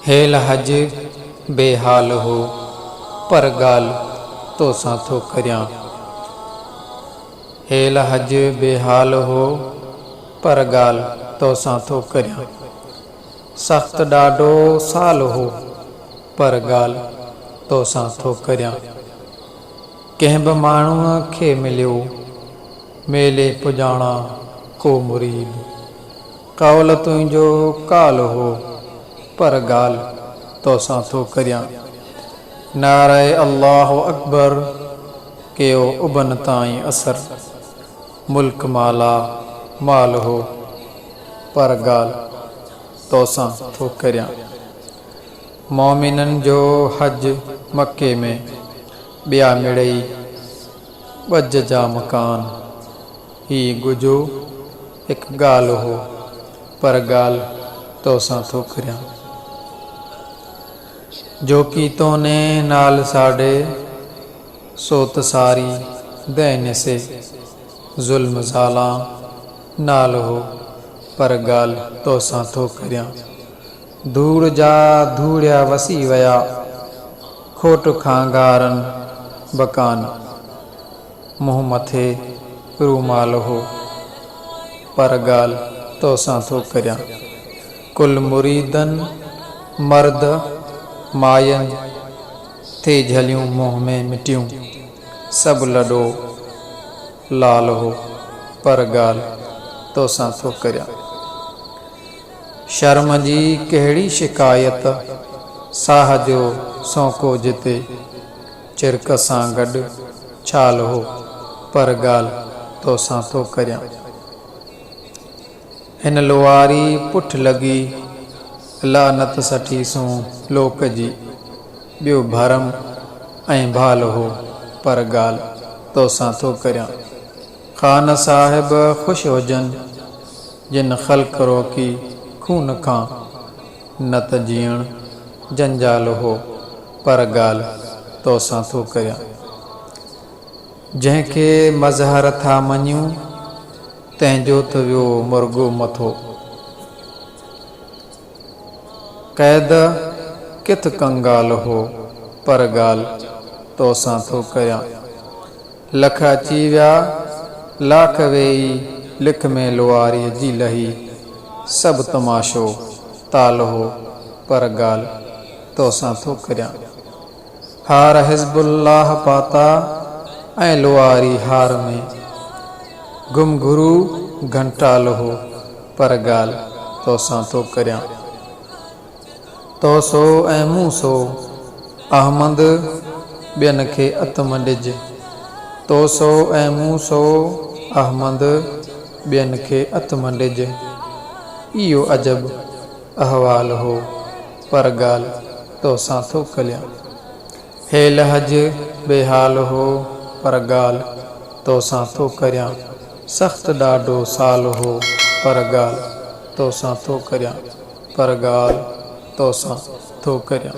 هيل حج بي حال هو پر ڳالهه توسان ٿو ڪريان. هيل حج بي حال هو پر ڳالهه توسان ٿو ڪريان. سخت ڏاڍو سال هو پر ڳالهه توسان ٿو ڪريان. ڪنهن به ماڻهوء کي مليو، ميلي پڄاڻا ڪو مريد. قول تنهنجو قال هو پر ڳالهه توسان ٿو ڪريان. نعره الله اڪبر ڪيو ابن تائين اثر. ملڪ مالا مال هو، پر ڳالهه توسان ٿو ڪريان. مؤمنن جو حج مڪي ۾، ٻيا مڙئي ڳجهه جا مڪان. هي ڳجهو هڪ ڳالهه هو، پر ڳالهه توسان ٿو ڪريان. جوڪي تونهين نال ساڍي. سوت ساري دين سي، ظلم زالان نال هو، پر ڳالهه توسان ٿو ڪريان. ڌوڙ جا ڌوڙيا وسي ويا، کوٽ کان گارن به ڪان. منهن مٿي رومال هو، پر ڳالهه توسان ٿو ڪريان. ڪل مريدن، مرد، ماين. ٿي جهليون منهن ۾ مٽيون، سڀ لڏو لال هو پر ڳالهه توسان ٿو ڪريان. شرم جي ڪهڙي شڪايت، ساهه جو سونڪو جتي، چرڪ سان گڏ ڇال هو پر ڳالهه توسان ٿو ڪريان. هن لوهاري پٺ لڳي، لعنت سٺي سون لوڪ جي. ٻيو ڀرم ۽ ڀال هو، پر ڳالهه توسان ٿو ڪريان. خان صاحب خوش هجن، جن خلق روڪي خون کان، نه ته جيئڻ جنجال هو، پر ڳالهه توسان ٿو ڪريان. جنهن کي مظهر ٿا مڃيون. تنهن جو ته ويو مرڳو مٿو. قيد ڪٿ ڪنگال هو، پر ڳالهه توسان ٿو ڪريان. لک اچي ويا، لاک ويئي، لک ۾ لواريء جي لهي. سڀ تماشو تال هو، پر ڳالهه توسان ٿو ڪريان. هار حزب الله پاتا ۽ لواري هار ۾ گم گرو گهنٽالو هو پر ڳالهه توسان ٿو ڪريان تو سو ۽ مون سو احمد ٻين کي اتم ڏج تو سو ۽ مون سو احمد ٻين کي اتم ڏج اهو عجب احوال هو، پر ڳالهه توسان ٿو کليان. هي لحج بي حال هو، پر ڳالهه توسان ٿو ڪريان. سخت ڏاڍو سال هو، پر ڳالهه توسان ٿو ڪريان، پر ڳالهه توسان ٿو ڪريان.